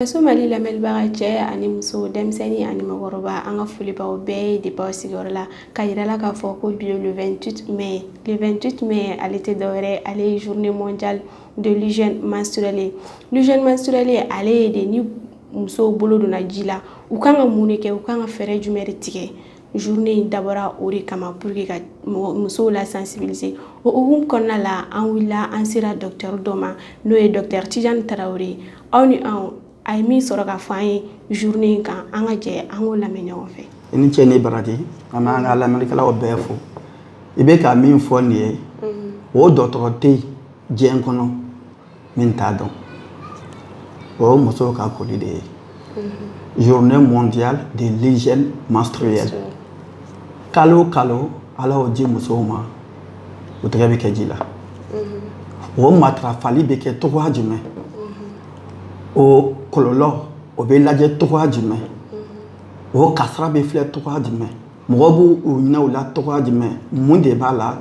Faso mali lamɛnlibaga cɛ ani muso denmisɛnnin ani mɔgɔkɔrɔba an ka foli b'aw bɛɛ ye depuis aw sigiyɔrɔ la ka yira la k'a fɔ ko bi ye le 28 mai le 28 mai ale tɛ dɔwɛrɛ ale ye journée mondiale de l'hygiène menstruelle l'hygiène menstruelle ale ye de ni musow bolo donna ji la u kan ka mun de kɛ u kan ka fɛɛrɛ jumɛn de tigɛ journée in dabɔra o de kama pour que ka musow la sensibiliser o hukumu kɔnɔna la an wulila an sera docteur dɔ ma n'o ye docteur Tijan Tarawele ye aw ni anw a ye min sɔrɔ k'a fɔ an ye journée in kan an ka jɛ an k'o lamɛn ɲɔgɔn fɛ i ni ce ni baraji an b'an ka lamɛnlikɛlaw bɛɛ fo i bɛ ka min fɔ nin ye o dɔgɔtɔrɔ tɛ yen diɲɛ kɔnɔ min t'a dɔn o ye musow ka koli de ye mhm. journée mondiale de l'hygiène menstruelle kalo o kalo ala y'o di musow ma u tɛgɛ bɛ kɛ ji la mhm. o matarafali bɛ kɛ cogoya jumɛn mhm. o kɔlɔlɔ o bɛ lajɛ cogoya jumɛn o kasara bɛ filɛ cogoya jumɛn mɔgɔw b'u ɲinɛ u la cogoya jumɛn mun de b'a la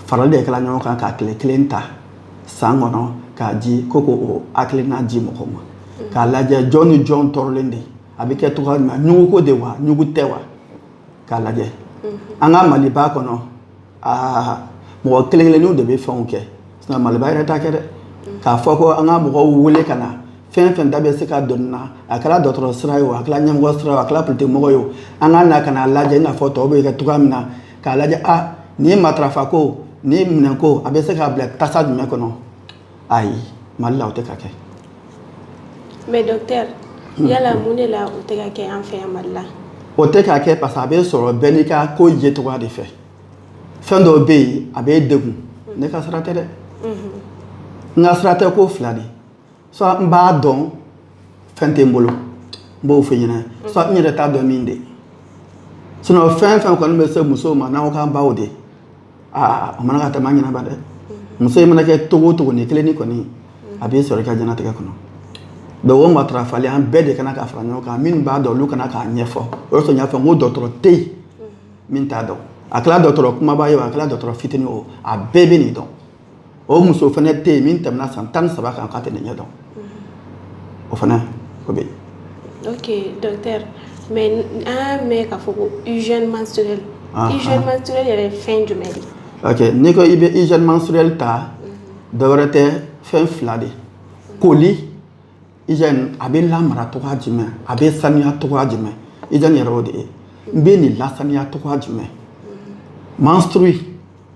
farali de kɛla ɲɔgɔn kan ka tile kelen ta san kɔnɔ k'a di ko ko o hakilina di mɔgɔ ma mm. k'a lajɛ jɔn ni jɔn tɔɔrɔlen de a bɛ kɛ cogoya min na ɲugu ko de wa ɲugu tɛ wa k'a lajɛ mm-hmm. an ka maliba kɔnɔ aa mɔgɔ kelen kelenninw de bɛ fɛnw kɛ sinon maliba yɛrɛ t'a kɛ dɛ mm. k'a fɔ ko an ka mɔgɔw wele ka na fɛn fɛn da bɛ se ka don a la a kɛra dɔgɔtɔrɔ sira ye o a kɛra ɲɛmɔgɔ sira ye o a kɛra politikimɔgɔ ye o an ka na ka n'a lajɛ i n'a fɔ tɔw bɛ kɛ cogoya min na k'a lajɛ a ah, nin ye matarafa ko nin ye minɛn ko a bɛ se k'a bila tasa jumɛn kɔnɔ ayi mali la o tɛ ka kɛ mais docteur hmm. yala mun de la o tɛ ka kɛ an fɛ yan mali la o tɛ ka kɛ parce que a bɛ sɔrɔ bɛɛ n'i ka ko ye cogoya de fɛ fɛn dɔw bɛ yen a bɛ degun ne ka sira tɛ dɛ n ka sira tɛ ko fila de soit n b'a dɔn fɛn tɛ n bolo n b'o f'i ɲɛna soit n yɛrɛ t'a dɔn min de sinon fɛn fɛn kɔni bɛ se musow ma n'aw k'an baw de aa o man kan ka tɛmɛ an ɲɛnaba dɛ muso in mana kɛ cogo cogo ni kelen ni kɔni a b'i sɔrɔ i ka diɲɛlatigɛ kɔnɔ donc o matarafali an bɛɛ de ka na ka fara ɲɔgɔn kan minnu b'a dɔn olu ka na k'a ɲɛfɔ o de sɔrɔ n y'a fɔ n ko dɔgɔtɔrɔ tɛ yen min t'a dɔn a kɛra dɔgɔtɔrɔ kunbaba ye o a kɛra dɔgɔtɔrɔ fitinin o a bɛɛ bɛ nin dɔn o muso fana tɛ yen min tɛmɛna san tan saba kan ka tɛmɛ ɲɛ dɔn o fana o bɛ mɛ an mɛn ka fɔ ko yɛrɛ fɛn jumɛn n'i ko i bɛ izmasurli ta dɔw wɛrɛ tɛ fɛn fila de koli Hygiène a bɛ lamara cogoya jumɛn a bɛ saniya cogoya jumɛn hygiène yɛrɛ o de ye n bɛ nin lasaniya cogoya jumɛn menstrue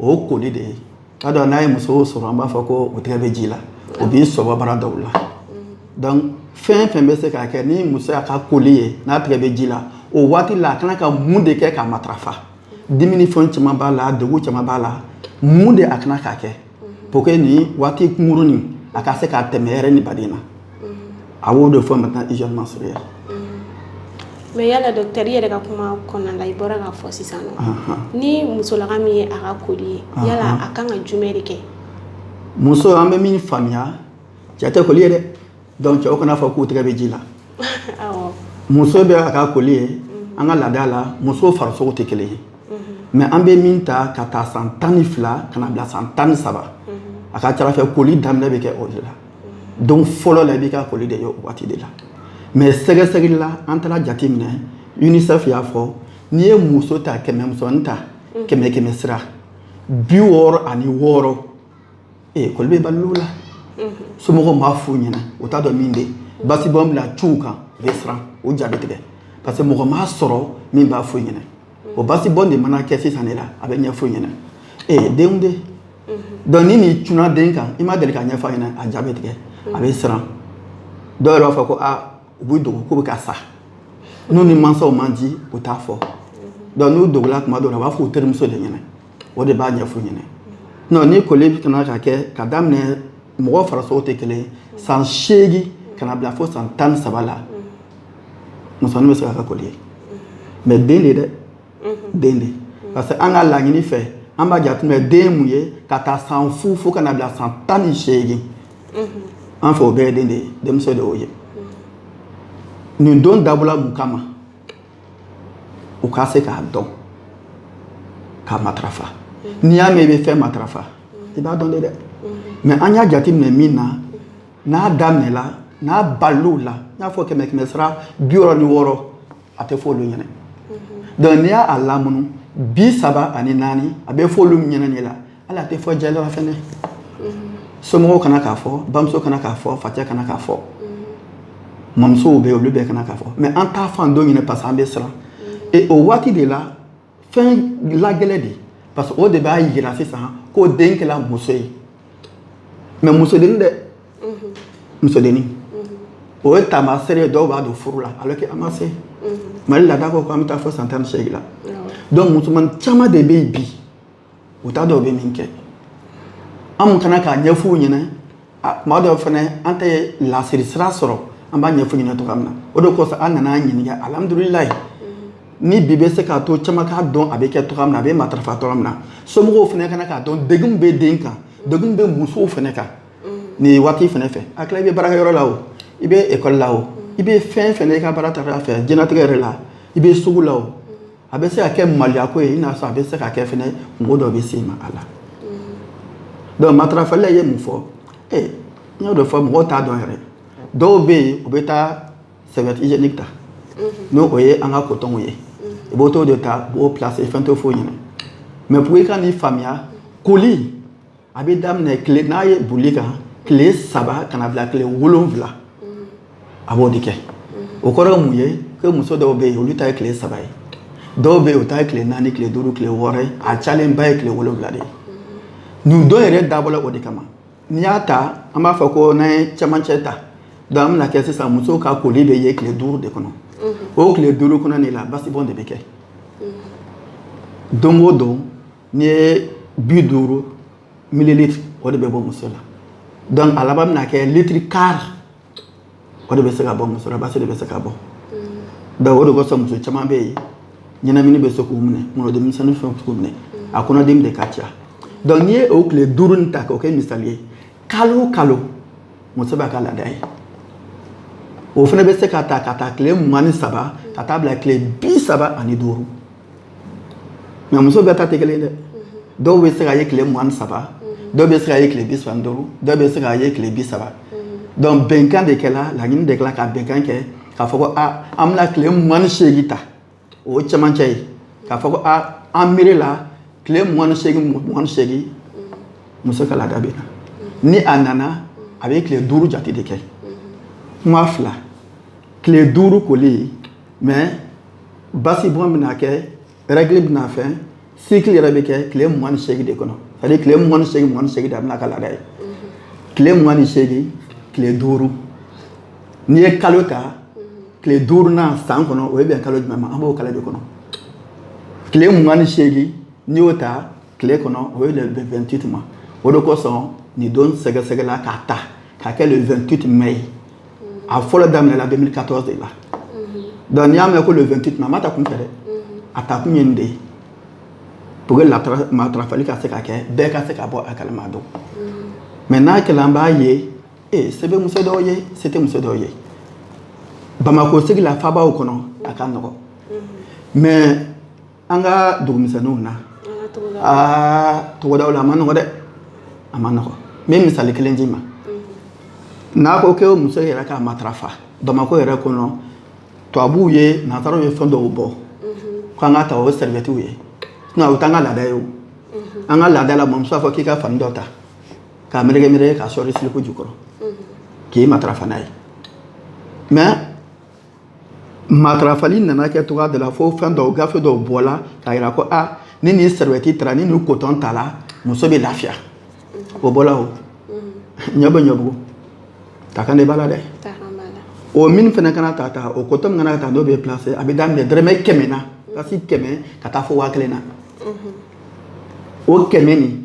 o koli de ye k'a dɔn n'a ye muso sɔrɔ an b'a fɔ ko o tɛgɛ bɛ ji la o b'i sɔbɔ baara dɔw la donc fɛn fɛn bɛ se k'a kɛ ni muso y'a ka koli ye n'a tɛgɛ bɛ ji la o waati la a kana ka mun de kɛ k'a matarafa dimi ni fɛn caman b'a la degun caman b'a la mun de a kana k'a kɛ pour que nin waati kunkurunin a ka se k'a tɛmɛ hɛrɛ ni baden na a b'o de fɔ maintenant hygiène menstruelle mais yala docteur i yɛrɛ ka kuma kɔnɔna la i bɔra k'a fɔ sisan nɔ ni musolaka min ye a ka koli ye yala a kan ka jumɛn de kɛ muso an bɛ min faamuya cɛ tɛ koli ye dɛ Donc cɛw kan'a fɔ k'u tɛgɛ bɛ ji la muso bɛ a ka koli ye an ka laada la muso farisogo tɛ kelen ye mais an bɛ min ta ka taa san tan ni fila ka na bila san tan ni saba a ka cara fɛ koli daminɛ bɛ kɛ o de la don fɔlɔ la i b'i ka koli de ye o waati de la mais sɛgɛsɛgɛli la an taara jate minɛ UNICEF y'a fɔ n'i ye muso ta kɛmɛ musonin ta kɛmɛ kɛmɛ sira bi wɔɔrɔ ani wɔɔrɔ ee koli bɛ bal'u la somɔgɔw b'a f'u ɲɛna u t'a dɔn min de basibɔn bɛ na cun u kan u bɛ siran u ja bɛ tigɛ parce que mɔgɔ ma sɔrɔ min b'a f'u ɲɛna o basibɔn de mana kɛ sisan de la a bɛ ɲɛf'u ɲɛna ee denw de donc ni nin cunna den kan i ma deli k'a ɲɛfɔ a ɲɛna a ja bɛ tigɛ a bɛ siran dɔw yɛrɛ b'a fɔ ko a u b'u dogo k'u bɛ ka sa n'u ni mansaw man di u t'a fɔ donc n'u dogora tuma dɔw la u b'a fɔ u terimuso de ɲɛna o de b'a ɲɛf'u ɲɛna non ni koli kana ka kɛ ka daminɛ mɔgɔ farisogo tɛ kelen san seegin ka na bila fo san tan ni saba la musonin bɛ se k'a ka koli ye mais den de dɛ den de parce que an ka laɲini fɛ an b'a jateminɛ den mun ye ka taa san fu fo ka na bila san tan ni seegin an fɛ o bɛɛ ye den de ye denmisɛn de y'o ye nin don dabɔla mun kama u ka se k'a dɔn k'a matarafa n'i y'a mɛn i bɛ fɛn matarafa i b'a dɔn de dɛ mais an y'a jateminɛ min na n'a daminɛla n'a bal'u la n y'a fɔ kɛmɛ kɛmɛ sira bi wɔɔrɔ ni wɔɔrɔ a tɛ fɔ olu ɲɛna donc n'i y'a lamunu bi saba ani naani a bɛ fɔ olu ɲɛna de la hali a tɛ fɔ jɛla fɛnɛ somɔgɔw kana k'a fɔ bamuso kana k'a fɔ facɛ kana k'a fɔ mamusow bɛ olu bɛɛ kana k'a fɔ mais an t'a f'an den ɲɛna parce que an bɛ siran et o waati de la fɛn lagɛlɛ de parce que o de b'a yira sisan ko den kɛla muso ye mais musodennin dɛ musodennin o ye taamaseere ye dɔw b'a don furu la alors que a ma se mali laada ko ko an bɛ taa fo san tan ni seegin la donc musoman caman de bɛ yen bi u t'a dɔn u bɛ min kɛ an ka na k'a ɲɛf'u ɲɛna tuma dɔw fana an tɛ lasiri sira sɔrɔ an b'a ɲɛf'u ɲɛna cogoya min na o de kosɔn an nana ɲininka alihamdulilayi ni bi bɛ se k'a to caman k'a dɔn a bɛ kɛ cogoya min na a bɛ matarafa cogoya min na somɔgɔw fana ka na k'a dɔn degun bɛ den kan degun bɛ musow fana kan nin waati fana fɛ a tila i bɛ baarakɛyɔrɔ la o i bɛ ekɔli la o i bɛ fɛn fɛn i ka baara ta fɛ diɲɛnatigɛ yɛrɛ la i bɛ sugu la o a bɛ se ka kɛ maloya ko ye i n'a sɔrɔ a bɛ se ka kɛ fɛnɛ mɔgɔ dɔ bɛ sɔmi a la donc matarafali la ye mun fɔ ee n y'o de fɔ mɔgɔw t'a dɔn yɛrɛ dɔw bɛ yen u bɛ taa serviette hygiénique ta n'o o ye an ka kotɔnw ye u bɛ t'o de ta u b'o placer fɛn t'o f'u ɲɛna mais pour i ka nin faamuya koli a bɛ daminɛ tile n'a ye boli kan tile saba ka na bila tile wolonwula a b'o de kɛ o kɔrɔ ye mun ye ko muso dɔw bɛ yen olu ta ye tile saba ye dɔw bɛ yen o ta ye tile naani tile duuru tile wɔɔrɔ ye a cayalenba ye tile wolonwula de ye nin don yɛrɛ dabɔla o de kama n'i y'a ta an b'a fɔ ko n'an ye cɛmancɛ ta donc an bɛna kɛ sisan muso ka koli bɛ ye tile duuru de kɔnɔ o tile duuru kɔnɔ de la basibɔn de bɛ kɛ don o don n'i ye bi duuru mililitiri o de bɛ bɔ muso la donc a laban bɛna kɛ litiri kari o de bɛ se ka bɔ muso la basi de bɛ se ka bɔ donc o de kosɔn muso caman bɛ yen ɲɛnamini bɛ se k'u minɛ kungolodimi misɛnnin fɛn k'u minɛ a kɔnɔdimi de ka ca donc n'i ye o tile duuru nin ta k'o kɛ misali ye kalo o kalo muso b'a ka laada ye o fana bɛ se ka ta ka taa tile mugan ni saba ka taa bila tile bi saba ani duuru mais muso bɛɛ ta tɛ kelen dɛ dɔw bɛ se ka ye tile mugan ni saba dɔw bɛ se ka ye tile bi saba ni duuru dɔw bɛ se ka ye tile bi saba donc bɛnkan de kɛla laɲini de kɛla ka bɛnkan kɛ k'a fɔ ko a ah, an bɛna tile mugan ni seegin ta o ye cɛmancɛ ye k'a fɔ ko a ah, an miiri la tile mugan ni seegin mugan ni seegin muso ka laada bɛ na ni a nana a bɛ tile duuru jate de kɛ kuma fila tile duuru koli mais basibɔn bɛna kɛ règle bɛna fɛn cycle yɛrɛ bɛ kɛ tile mugan ni seegin de kɔnɔ c'est à dire tile mugan ni seegin mugan ni seegin de a bɛna ka laada ye tile mugan ni seegin tile duuru n'i ye kalo ta tile duurunan san kɔnɔ o ye bɛn kalo jumɛn ma an b'o kalo de kɔnɔ tile mugan ni seegin n'i y'o ta tile kɔnɔ o ye le 28 ma o de kosɔn nin don sɛgɛsɛgɛla k'a ta k'a kɛ le 28 mai a fɔlɔ daminɛla 2014 de la donc n'i y'a mɛn ko le 28 mai a ma ta kunfɛ dɛ a ta kun ye nin de ye pour que matarafali ka se ka kɛ bɛɛ ka se ka bɔ a kalama donc mais n'a kɛla an b'a ye ee se bɛ muso dɔw ye se tɛ muso dɔw ye bamakɔ sigi la faabaw kɔnɔ a ka nɔgɔn mais an ka dugumisɛnninw na aa togodaw la a ma nɔgɔ dɛ a ma nɔgɔ n bɛ misali kelen d'i ma n'a ko ko muso yɛrɛ k'a matarafa bamakɔ yɛrɛ kɔnɔ tubabuw ye nazaraw ye fɛn dɔw bɔ ko an k'a ta o ye sɛrɛbɛtiw ye sinɔn o t'an ka laada ye o an ka laada la mɔmuso b'a fɔ k'i ka fani dɔ ta k'a meleke meleke k'a sɔɔri silipu jukɔrɔ k'i matarafa n'a ye mɛ matarafali nana kɛ cogoya dɔ la fo fɛn dɔw gafe dɔw bɔla k'a yira ko a ni nin sɛrɛwɛti tara ni nin kotɔn tala muso bɛ lafiya o bɔla o ɲɛ bɛ ɲɛbugu ta kan de b'a la dɛ o min fana kana ta ta o kotɔn min kana ta n'o bɛ pilase a bɛ daminɛ dɔrɔmɛ kɛmɛ na ka se kɛmɛ ka taa fo waa kelen na o kɛmɛ nin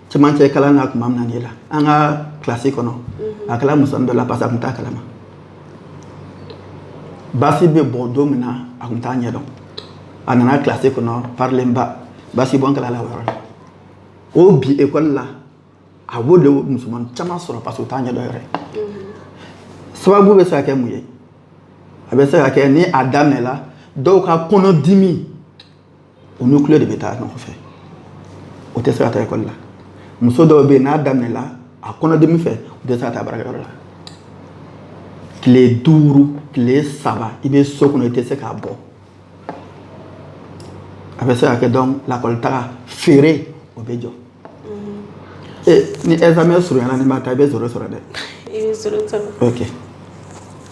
cɛmancɛ kalan na tuma min na la an ka kilasi kɔnɔ a kɛla musoni dɔ la parce que a tun t'a kalama basi bɛ bɔ don min na a tun t'a ɲɛdɔn a nana kilasi kɔnɔ parilenba basi bɔn kɛl'a la o yɔrɔ la o bi ekɔli la a b'o denmusoman caman sɔrɔ parce que o t'a ɲɛdɔn yɛrɛ sababu bɛ se ka kɛ mun ye a bɛ se ka kɛ ni a daminɛla dɔw ka kɔnɔdimi o ni koli de bɛ taa ɲɔgɔn fɛ o tɛ se ka taa ekɔli la muso dɔw bɛ yen n'a daminɛla a kɔnɔdimi fɛ o tɛ se ka taa baarakɛyɔrɔ la tile duuru tile saba i bɛ so kɔnɔ i tɛ se ka bɔ a bɛ se ka kɛ donc lakɔlitaga feere o bɛ jɔ ni examen surunyana n'i ma taa i bɛ zoro sɔrɔ dɛ i bɛ zoro sɔrɔ ok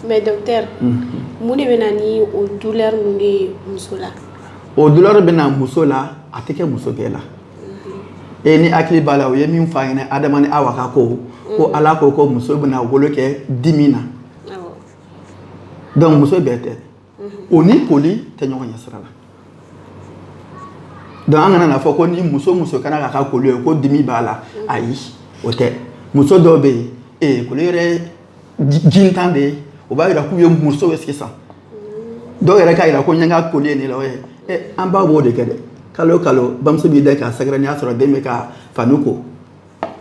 mais docteur mun de bɛ na ni o douleur ninnu ye muso la o douleur bɛ na muso la a tɛ kɛ muso bɛɛ la e n'i hakili b'a la u ye min fɔ a ɲɛna Adama ni Awa ka ko ko Ala ko ko muso bɛna wolo kɛ dimi na donc muso bɛɛ tɛ o ni koli tɛ ɲɔgɔn ɲɛ sira la donc an kana n'a fɔ ko ni muso muso kana k'a ka koli ye ko dimi b'a la ayi o tɛ muso dɔw bɛ yen ee koli yɛrɛ jintan de ye o b'a yira k'u ye muso ye sisan dɔw yɛrɛ k'a yira ko n ye n ka koli ye nin la o ye an ba b'o de kɛ dɛ kalo o kalo bamuso b'i da k'a sɛgɛrɛ n'i y'a sɔrɔ den bɛ ka fani ko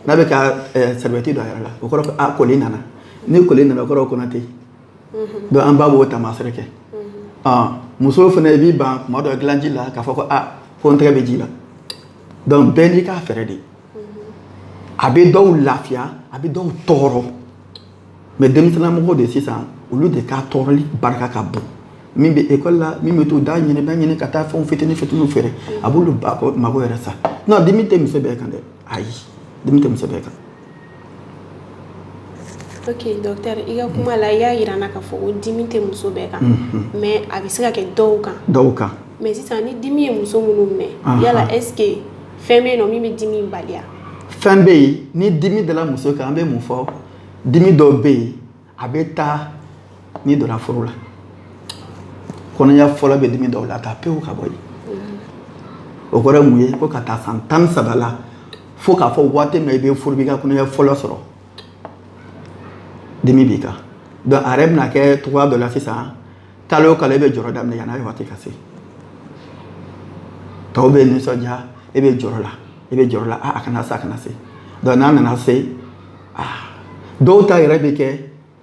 n'a bɛ ka sɛrɛbɛti don a yɛrɛ la o kɔrɔ ko a koli nana ni koli nana o kɔrɔ ko kɔnɔ tɛ yen donc an ba b'o tamasere kɛ muso fana i b'i ban tuma dɔ dilanji la k'a fɔ ko aa ko n tɛgɛ bɛ ji la dɔnku bɛɛ n'i ka fɛɛrɛ de a bɛ dɔw lafiya a bɛ dɔw tɔɔrɔ mɛ denmisɛnninmɔgɔ de sisan olu de ka tɔɔrɔli barika ka bon min bɛ ekɔli la min bɛ to da ɲini da ɲini ka taa fɛnw fitini fitiniw feere a b'olu mago yɛrɛ sa non dimi tɛ muso bɛɛ kan dɛ ayi dimi tɛ muso bɛɛ kan Oke docteur i ka kuma la i y'a yira an na k'a fɔ ko dimi tɛ muso bɛɛ kan mais a bɛ se ka kɛ dɔw kan dɔw kan mais sisan ni dimi ye muso minnu minɛ yala est ce que fɛn bɛ yen min bɛ dimi bali fɛn bɛ yen ni dimi dala muso kan an bɛ mun fɔ dimi dɔw bɛ yen a bɛ taa n'i donna furu la kɔnɔya fɔlɔ bɛ dimi dɔw lataa pewu ka bɔ yen o kɔrɔ ye mun ye ko ka ta san tan ni saba la fo k'a fɔ waati min i bɛ furu b'i ka kɔnɔya fɔlɔ sɔrɔ dimi b'i kan donc a yɛrɛ bɛna kɛ cogoya dɔ la sisan kalo o kalo e bɛ jɔrɔ daminɛ yanni a waati ka se tɔw bɛ nisɔndiya e bɛ jɔrɔ la e bɛ jɔrɔ la a kana se a kana se donc n'a nana se ah, dɔw ta yɛrɛ bɛ kɛ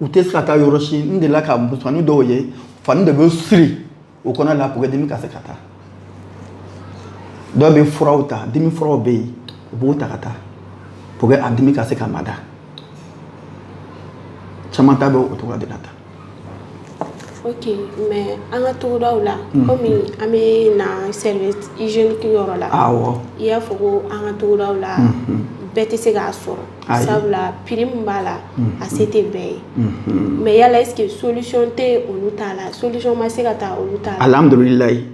u tɛ se ka taa yɔrɔ si n delila ka musomanin dɔw ye fani de bɛ siri u kɔnɔ la pour que dimi ka se ka taa dɔw bɛ furaw ta dimi furaw bɛ yen u b'o ta ka taa pour que a dimi ka se ka mada caman ta bɛ o cogoya de la tan Ok mais an ka togodaw la unhun comme an bɛ na serviette hygiénique yɔrɔ la awɔ i y'a fɔ koo an ka togodaw la unhun bɛɛ tɛ se k'a sɔrɔ ayi sabula prix min b'a la unhun a se tɛ bɛɛ ye unhun mais yala est ce que solution tɛ olu ta la solution ma se ka ta olu ta la alhamdulilahi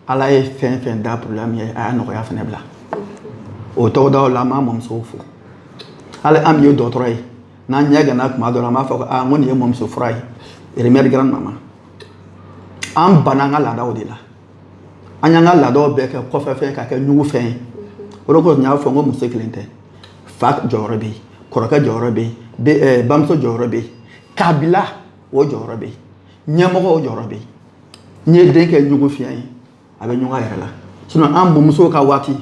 ala ye fɛn fɛn da problème ye a y'a nɔgɔya fɛnɛ bila o togodaw la an b'an mɔmusow fo hali an min ye dɔgɔtɔrɔ ye n'an ɲɛ ganna tuma dɔ la an b'a fɔ ko aa n ko nin ye mɔmuso fura ye remède grand maman an banna an ka laadaw de la an y'an ka laadaw bɛɛ kɛ kɔfɛ fɛn ka kɛ ɲugu fɛn ye o de kosɔn n y'a fɔ n ko muso kelen tɛ fa jɔyɔrɔ bɛ yen kɔrɔkɛ jɔyɔrɔ bɛ yen bamuso jɔyɔrɔ bɛ yen kabila o jɔyɔrɔ bɛ yen ɲɛmɔgɔ o jɔyɔrɔ bɛ yen n'i ye den kɛ ɲugu fɛn ye a bɛ ɲugu a yɛrɛ la sinon an mɔmusow ka waati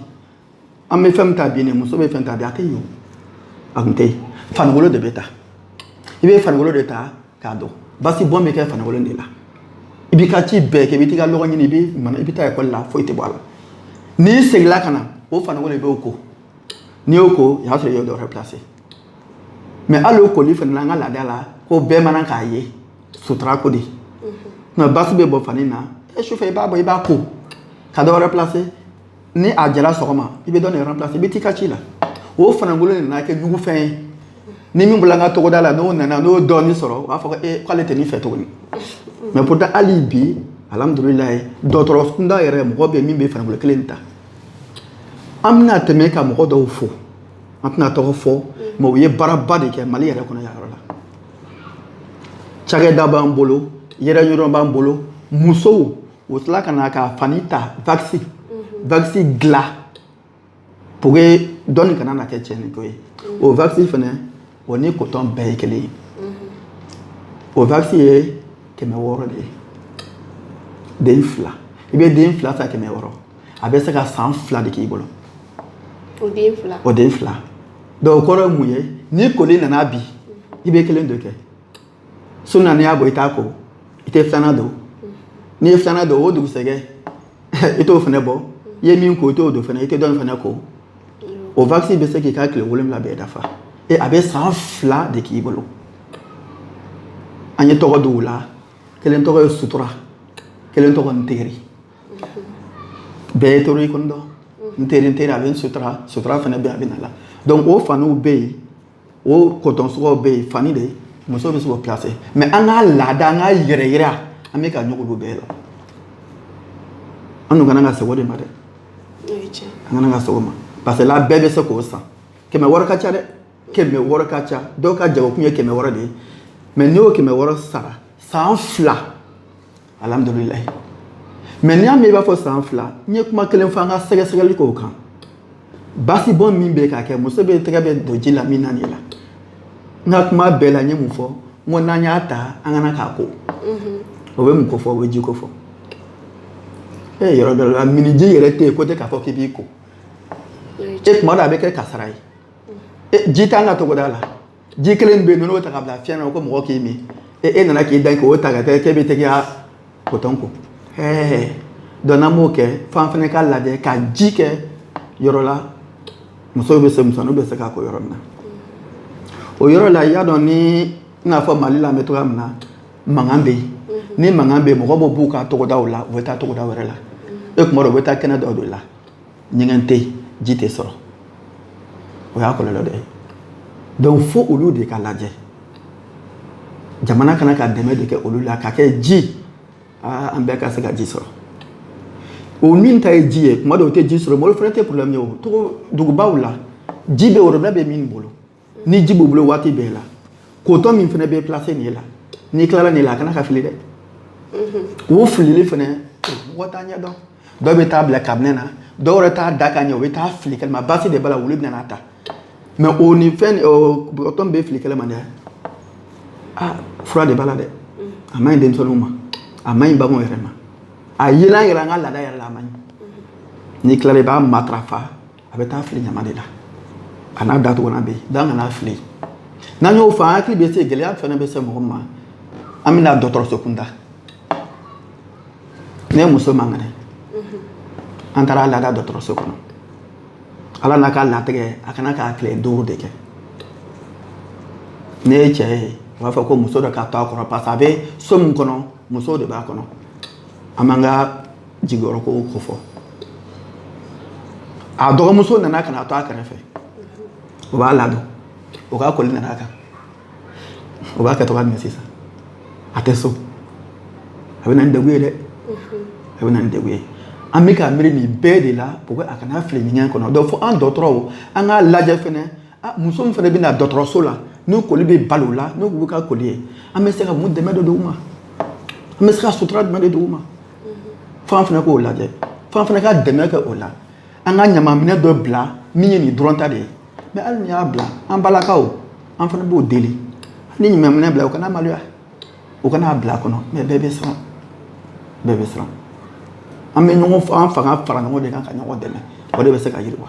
an bɛ fɛn min ta bi nin muso bɛ fɛn ta bi a tɛ yen a tun tɛ yen fanikolo de bɛ ta i bɛ fanikolo de ta k'a don basi bɔn bɛ kɛ fanikolo de la i b'i ka ci bɛɛ kɛ i bɛ t'i ka lɔgɔ ɲini i bɛ mana i bɛ taa ekɔli la foyi tɛ bɔ a la n'i seginna ka na o fanikolo i b'o ko n'i y'o ko o y'a sɔrɔ i y'o dɔ wɛrɛ placer mais hali o koli fana na an ka laada la ko bɛɛ man kan k'a ye sutura ko de nka basi bɛ bɔ fani na e sufɛ i b'a bɔ i b'a ko ka dɔ wɛrɛ placer ni a jala sɔgɔma i bɛ dɔ nin replacer i bɛ t'i ka ci la o fanikolo nana kɛ ɲugu fɛn ye ni min bɔla an ka togoda la n'o nana n'o dɔɔni sɔrɔ u b'a fɔ ko ee k'ale tɛ nin fɛ tuguni mais pourtant hali bi alhamdulilayi dɔgɔtɔrɔ kunda yɛrɛ mɔgɔ bɛ yen min bɛ fanikolo kelen ta an bɛna tɛmɛ ka mɔgɔ dɔw fo an tɛna tɔgɔ fɔ mais u ye baaraba de kɛ mali yɛrɛ kɔnɔ yan yɔrɔ la cakɛda b'an bolo yɛrɛ yɔrɔ b'an bolo musow o tila ka na ka fani ta vakisi vakisi mhm. dilan pour que dɔnni kana na kɛ tiɲɛni ko ye o vakisi fana o ni kotɔn bɛɛ ye kelen ye o vakisi ye kɛmɛ wɔɔrɔ de ye den fila i bɛ den fila san kɛmɛ wɔɔrɔ a bɛ se ka san fila de k'i bolo o den fila donc o kɔrɔ ye mun ye ni koli nana bi i bɛ kelen de kɛ so na n'i y'a bɔ i t'a ko i tɛ filanan don n'i ye filanan don o dugusɛgɛ i t'o fana bɔ i ye min ko i t'o don fana i tɛ dɔ in fana ko o vakisi bɛ se k'i ka tile wolonwula bɛɛ dafa e a bɛ san fila de k'i bolo an ye tɔgɔ di u la kelen tɔgɔ ye sutura kelen tɔgɔ n teri bɛɛ ye toro i kɔni dɔn n teri n teri a bɛ n sutura sutura fana bɛ a bɛ na la donc o faniw bɛ yen o kɔtɔn suguw bɛ yen fani de ye muso bɛ se k'o pilase mais an ka laada an k'a yɛrɛ yira an bɛ ka ɲɔgɔn don bɛɛ la an dun ka na ka segin o de ma dɛ an ka na ka segin o ma parce que la bɛɛ bɛ se k'o san kɛmɛ wɔɔrɔ ka ca dɛ kɛmɛ wɔɔrɔ ka ca dɔw ka jagokun ye kɛmɛ wɔɔrɔ de ye mais n'i y'o kɛmɛ wɔɔrɔ sara san fila alihamudulila mais n'i y'a mɛn i b'a fɔ san fila n ye kuma kelen fɔ an ka sɛgɛsɛgɛli kow kan basibɔn min bɛ ka kɛ muso bɛ tɛgɛ bɛ don ji la min na nin la n ka kuma bɛɛ la n ye mun fɔ n ko n'an y'a ta an ka na k'a ko o bɛ mun ko fɔ o bɛ ji ko fɔ e yɔrɔ dɔ la minniji yɛrɛ tɛ yen ko tɛ k'a fɔ k'i b'i ko e kuma dɔ a bɛ kɛ kasara ye ji t'an ka togoda la ji kelen bɛ yen n'o ta ka bila fiɲɛ na ko mɔgɔ k'i min e e nana k'i da k'o ta ka kɛ k'e bɛ taga i ka kotɔn ko ɛɛ donc n'an b'o kɛ f'an fana ka lajɛ ka ji kɛ yɔrɔ la musow bɛ se musoninw bɛ se k'a ko yɔrɔ min na o yɔrɔ la i y'a dɔn ni i n'a fɔ mali la an bɛ cogoya min na mankan bɛ yen ni mankan bɛ yen mɔgɔ bɛ bɔ u ka togodaw la u bɛ taa togoda wɛrɛ la e kuma dɔ u bɛ taa kɛnɛ dɔ de la ɲɛgɛn tɛ yen ji tɛ sɔrɔ o y'a kɔlɔlɔ dɔ ye donc fo olu de ka lajɛ jamana ka na ka dɛmɛ de kɛ olu la ka kɛ ji aa an bɛɛ ka se ka ji sɔrɔ o minta ye ji ye kuma dɔw o tɛ ji sɔrɔ mɔgɔ fana tɛ problème ye o togo dugubaw la ji bɛ worobinɛ bɛ min bolo ni ji b'u bolo waati bɛɛ la kotɔn min fana bɛ placer nin la n'i tilala nin la a kana ka fili dɛ o filili fana mɔgɔ t'a ɲɛ dɔn dɔw bɛ t'a bila kabinɛ na dɔw yɛrɛ t'a da ka ɲɛ u bɛ t'a fili kɛnɛma basi de b'a la wulu bɛna a ta mais o ni fɛn kotɔn min bɛ fili kɛnɛma dɛ aa fura de b'a la dɛ a man ɲi denmisɛnninw ma a man ɲi baganw yɛrɛ ma a yelan yɛrɛ an ka laada yɛrɛ la a man ɲi n'i tilala i b'a matarafa a bɛ taa fili ɲama de la a n'a datugulan bɛ yen dan kana fili n'an y'o fɔ an hakili bɛ se gɛlɛya fana bɛ se mɔgɔ ma an bɛna dɔgɔtɔrɔso kunda ne muso man kɛnɛ an taara a lada dɔgɔtɔrɔso kɔnɔ ala n'a ka latigɛ a ka kan ka tile duuru de kɛ ne ye cɛ ye u b'a fɔ ko muso dɔ ka to a kɔrɔ parce que a bɛ so min kɔnɔ muso de b'a kɔnɔ an b'an ka jigiyɔrɔ ko ko fɔ a dɔgɔmuso nana ka na to a kɛrɛfɛ o b'a ladon o ka koli nana a kan o b'a kɛ cogoya min sisan a tɛ so a bɛ na ni degun ye dɛ a bɛ na ni degun ye an bɛ ka miiri nin bɛɛ de la pour que a kana fili ɲɛgɛn kɔnɔ donc fo an dɔgɔtɔrɔw an k'a lajɛ fɛnɛ muso min fɛnɛ bɛ na dɔgɔtɔrɔso la n'u koli bɛ bala u la n'u bɛ ka koli ye an bɛ se ka mun dɛmɛ de d'u ma an bɛ se ka sutura jumɛn de d'u ma f'an fana k'o lajɛ f'an fana ka dɛmɛ kɛ o la an ka ɲamaminɛn dɔ bila min ye nin dɔrɔn ta de ye mais hali n'i y'a bila an balakaw an fana b'o deli ni ɲamaminɛn bila u kana maloya u ka n'a bila a kɔnɔ mais bɛɛ bɛ siran bɛɛ bɛ siran an bɛ ɲɔgɔn an fanga fara ɲɔgɔn de kan ka ɲɔgɔn dɛmɛ o de bɛ se ka yiriwa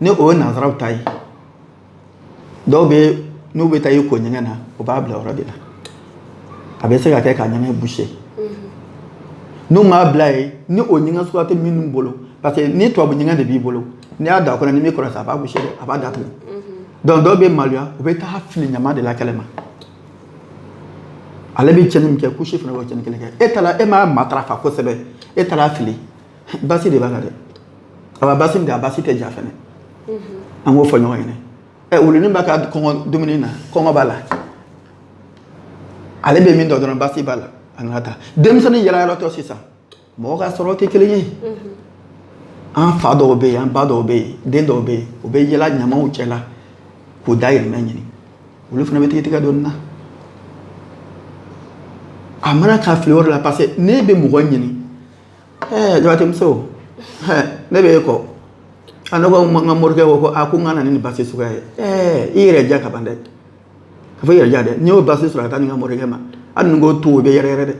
ni o ye nansaraw ta ye dɔw bɛ n'u bɛ taa i ko ɲɛgɛn na u b'a bila yɔrɔ de la a bɛ se ka kɛ ka ɲɛgɛn boucher n'u m'a bila yen ni o ɲɛgɛn suguya tɛ minnu bolo parce que ni tubabu ɲɛgɛn de b'i bolo n'i y'a da a kɔnɔ ni min kɔrɔ sa a b'a boucher dɛ a b'a datugu donc dɔw bɛ maloya u bɛ taa fili ɲama de la kɛnɛma ale bɛ cɛnni min kɛ kusi fana b'o cɛnni kelen kɛ e taara e m'a matarafa kosɛbɛ e taara fili basi de b'a la dɛ a b'a basi min a basi tɛ ja fɛnɛ an k'o fɔ ɲɔgɔn ɲɛna ɛ wuluni b'a ka kɔngɔ dumuni na kɔngɔ b'a la ale bɛ min dɔn dɔrɔn basi b'a la a nana taa denmisɛnnin yaala yaalatɔ sisan mɔgɔ ka sɔrɔ tɛ kelen ye an fa dɔw bɛ yen an ba dɔw bɛ yen den dɔw bɛ yen u bɛ yaala ɲamaw cɛ la k'u dahirimɛ ɲini olu fana bɛ tigɛtigɛ dɔɔnin na a man kan ka fili yɔrɔ la parce que n'e bɛ mɔgɔ ɲini ɛɛ jabatɛmuso ɛɛ ne bɛ e kɔ a ne ko n ka morikɛ ko ko a ko n ka na ni nin basi suguya ye ɛɛ i yɛrɛ ja ka ban dɛ ka fɔ i yɛrɛ ja dɛ n'i y'o basi sɔrɔ ka taa di n ka morikɛ ma hali ni n ko to o bɛ yɛrɛ yɛrɛ dɛ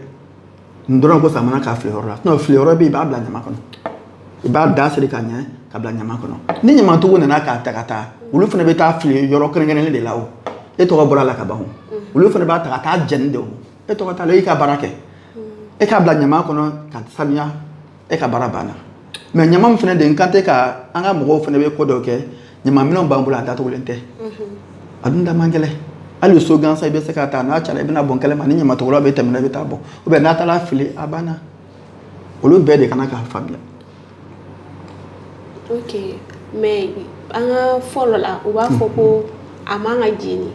n dɔrɔn ko sa a man kan ka fili yɔrɔ la sinon fili yɔrɔ bɛ yen i b'a bila ɲama kɔnɔ i b'a da siri ka ɲɛ ka bila ɲama kɔnɔ ni ɲamatigiw nana k'a ta ka taa olu fana bɛ taa fili yɔrɔ kɛrɛnkɛrɛnnen de la o e tɔgɔ bɔra a la ka ban o olu fana b'a ta ka taa jɛni de o e tɔgɔ t'a la e y'i ka baara kɛ e k'a bila ɲama kɔnɔ ka sanuya e ka baara banna mais ɲama min fana de n kan tɛ ka an ka mɔgɔw fana bɛ ko dɔ kɛ ɲama minɛnw b'an bolo a datugulen tɛ a dun da man gɛlɛn hali so gansan i bɛ se k'a ta n'a cayara i bɛ n'a bɔn kɛnɛma ni ɲamatɔgɔla bɛ tɛmɛna i bɛ taa bɔn ou bien n'a taara fili a banna olu bɛɛ de ka kan k'a faamuya Mais an ka fɔlɔ la u b'a fɔ ko a man ka jeni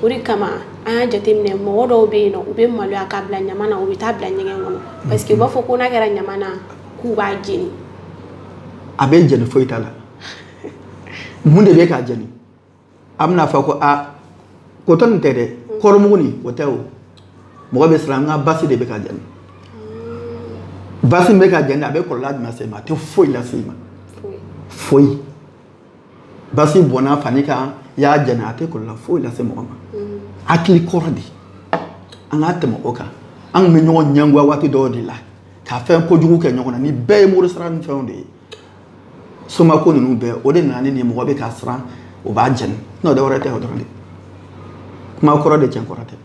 o de kama an y'a jateminɛ mɔgɔ dɔw bɛ yen u bɛ maloya k'a bila ɲama na u bɛ taa bila ɲɛgɛn kɔnɔ parce que u b'a fɔ ko n'a kɛra ɲama na k'u b'a jeni a bɛ jeni foyi t'a la mun de bɛ k'a jeni A bɛna fɔ ko aa coton tɛ dɛ kɔɔrimugu nin o tɛ o mɔgɔ bɛ siran an ka basi de bɛ ka jeni basi bɛ ka jeni a bɛ kɔlɔlɔ jumɛn se ma a tɛ foyi lase i ma foyi basi bɔnna fani kan i y'a jeni a tɛ kɔlɔlɔ foyi lase mɔgɔ ma a hakili kɔrɔ de an ka tɛmɛ o kan an bɛ ɲɔgɔn ɲɛngoya waati dɔw de la ka fɛn kojugu kɛ ɲɔgɔn na nin bɛɛ ye mori sara ni fɛnw de ye somako ninnu bɛɛ o de nana ni nin mɔgɔ bɛ ka siran o b'a jeni n'o dɔwɛrɛ tɛ o dɔrɔn de kuma kɔrɔ de cɛn kɔrɔ tɛ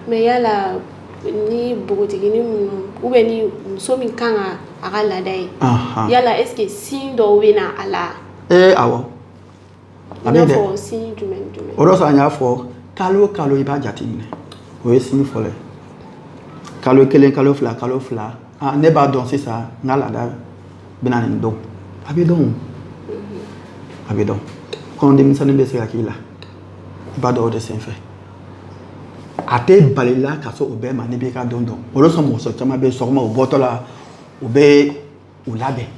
mais yala ni npogotigini minnu ou bien ni muso min kan ka a ka laada ye yala est ce que signe dɔw bɛ na a la ee aw A bɛ dɛ. I n'a fɔ signe jumɛn ni jumɛn. O de kosɔn an y'a fɔ kalo o kalo i b'a jateminɛ o ye signe fɔlɔ ye kalo kelen kalo fila kalo fila aa ne b'a dɔn sisan n ka laada bɛ na nin don a bɛ dɔn a bɛ dɔn kɔnɔdimisɛnnin bɛ se ka k'i la i b'a dɔn o de senfɛ a tɛ bal'i la ka se o bɛɛ ma n'i b'i ka don dɔn o de kosɔn muso caman bɛ sɔgɔma u bɔtɔ la u bɛ u labɛn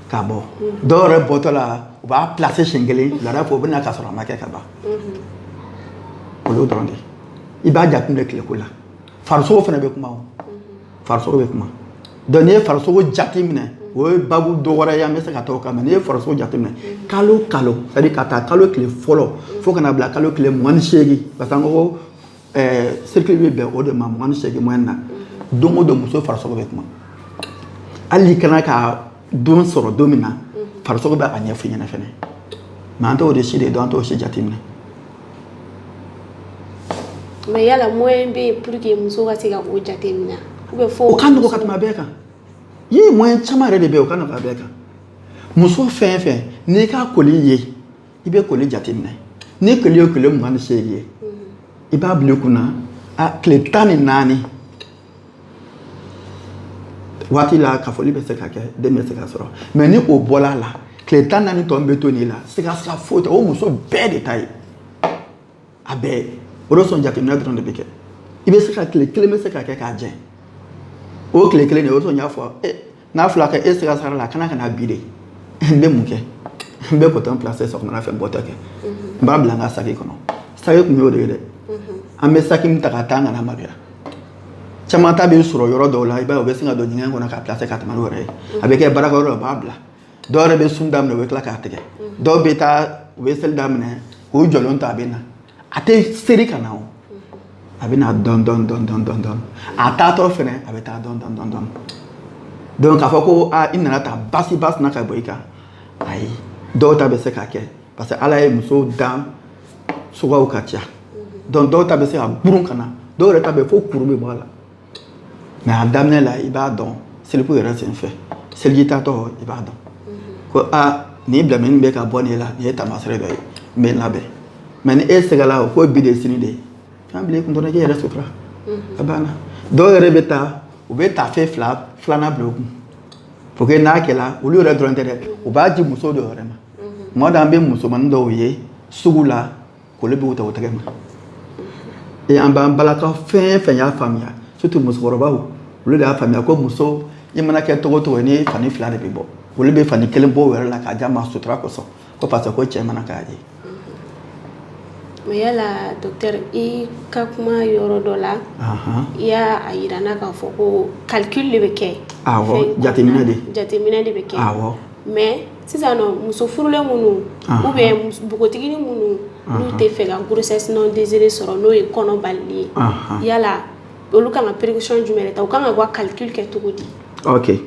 ka bɔ dɔw yɛrɛ bɔtɔ la u b'a placer siɲɛ kelen wulada fɛ u bɛ na k'a sɔrɔ a ma kɛ ka ban o y'o dɔrɔn de ye i b'a jateminɛ tileko la farisogo fana bɛ kuma o farisogo bɛ kuma donc n'i ye farisogo jateminɛ o ye baabu dɔ wɛrɛ ye an bɛ se ka t'o kan mais n'i ye farisogo jateminɛ kalo o kalo c'est à dire ka taa kalo tile fɔlɔ fo ka na bila kalo tile mugan ni seegin parce que an ko ko ɛɛ cycle bɛ bɛn o de ma mugan ni seegin moyenne na don o don muso farisogo bɛ kuma hali n'i kana ka don sɔrɔ don min na farisogo bɛ a ɲɛf'i ɲɛna fɛnɛ mais an t'o de si de dɔn an t'o si jateminɛ mais yala moyen bɛ yen pour que muso ka se ka o jateminɛ ou bien fo o ka nɔgɔ ka tɛmɛ a bɛɛ kan ye moyen caman yɛrɛ de bɛ yen o ka nɔgɔ a bɛɛ kan muso fɛn fɛn n'i ka koli ye i bɛ koli jateminɛ ni koli ye tile mugan ni seegin ye i b'a bila i kunna a tile tan ni naani waati la kafoli bɛ se ka kɛ den bɛ se ka sɔrɔ mais ni o bɔla a la tile tan naani tɔ min bɛ to nin la sigasiga foyi tɛ o muso bɛɛ de ta ye a bɛɛ o de sɔn jateminɛ dɔrɔn de bɛ kɛ i bɛ se ka tile kelen bɛ se ka kɛ k'a jɛ o tile kelen de o de sɔn n y'a fɔ e n'a fɔla kɛ e sigasigala a kana kana bi de n bɛ mun kɛ n bɛ coton placer sɔgɔmada fɛ n bɔtɔ kɛ n b'a bila n ka saki kɔnɔ saki kun y'o de ye dɛ an bɛ saki min ta ka taa kana maloya caman ta bɛ sɔrɔ yɔrɔ dɔw la i b'a ye o bɛ sin ka don ɲɛgɛn kɔnɔ k'a placer ka tɛmɛ n'o yɛrɛ ye a bɛ kɛ baarakɛyɔrɔ la o b'a bila dɔw yɛrɛ bɛ sun daminɛ u bɛ tila k'a tigɛ dɔw bɛ taa u bɛ seli daminɛ k'u jɔlen to a bɛ na a tɛ seri ka na o a bɛ na dɔn dɔn dɔn dɔn dɔn dɔn a taatɔ fɛnɛ a bɛ taa dɔn dɔn dɔn dɔn donc k'a fɔ ko aa i nana ta basi basi na ka bɔ i kan ayi dɔw ta bɛ se ka kɛ parce que ala ye muso dan suguyaw ka ca donc dɔw ta bɛ se ka burun ka na dɔw yɛrɛ ta bɛ fo kuru bɛ bɔ a la mais a daminɛ la i b'a dɔn seliko yɛrɛ sen fɛ seliji tatɔ i b'a dɔn ko a nin bilenmanin bɛ ka bɔ nin la nin ye taamasere dɔ ye n bɛ n labɛn mais ni e sigala o ko bi de sini de ye fɛn bila i kun dɔrɔn k'i yɛrɛ sutura a banna dɔw yɛrɛ bɛ taa u bɛ taafe fila filanan bila u kun pour que n'a kɛla olu yɛrɛ dɔrɔn tɛ dɛ u b'a di muso dɔ yɛrɛ ma tuma dɔ an bɛ musomanin dɔw ye sugu la k'olu b'u ta u tɛgɛ ma ee an b'an balakaw fɛn fɛn y'a faamuya surtout musokɔrɔbaw olu de y'a faamuya ko muso i mana kɛ cogo cogo ni fani fila de bɛ bɔ olu bɛ fani kelen bɔ o yɛrɛ la k'a d'a ma sutura kosɔn ko parce que ko cɛ man kan k'a ye mais yala docteur i ka kuma yɔrɔ dɔ la i y'a yira n na k'a fɔ ko calcul de bɛ kɛ awɔ jateminɛ de jateminɛ de bɛ kɛ awɔ mais sisan nɔn muso furulen minnu ou bien npogotiginin minnu n'u tɛ fɛ ka grossesse non désirée sɔrɔ n'o ye kɔnɔ balilen ye, anhan, yala olu ka kan ka précaution jumɛn de ta u ka kan ka u ka calcul kɛ cogo di? ok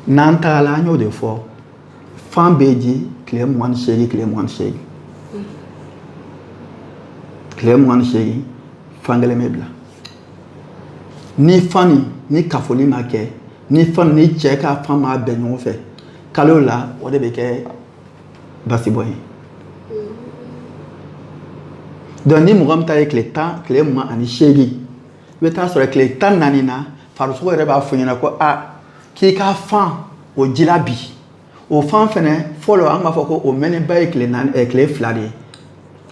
n'an taala an y'o de fɔ fan bɛ di tile mugan ni seegin tile mugan ni seegin tile mugan ni seegin fan kelen bɛ bila ni fan ni ni kafoli ma kɛ ni fan ni cɛ ka fan ma bɛn ɲɔgɔn fɛ kalo la o de bɛ kɛ basibɔn ye donc ni mɔgɔ min ta ye tile tan tile mugan ani seegin i bɛ t'a sɔrɔ tile tan naani na farisogo yɛrɛ b'a fɔ ɲɛna ko a k'i ka fan o jila bi O fan fɛnɛ fɔlɔ an b'a fɔ ko o mɛnenba ye tile naani ɛ tile fila de ye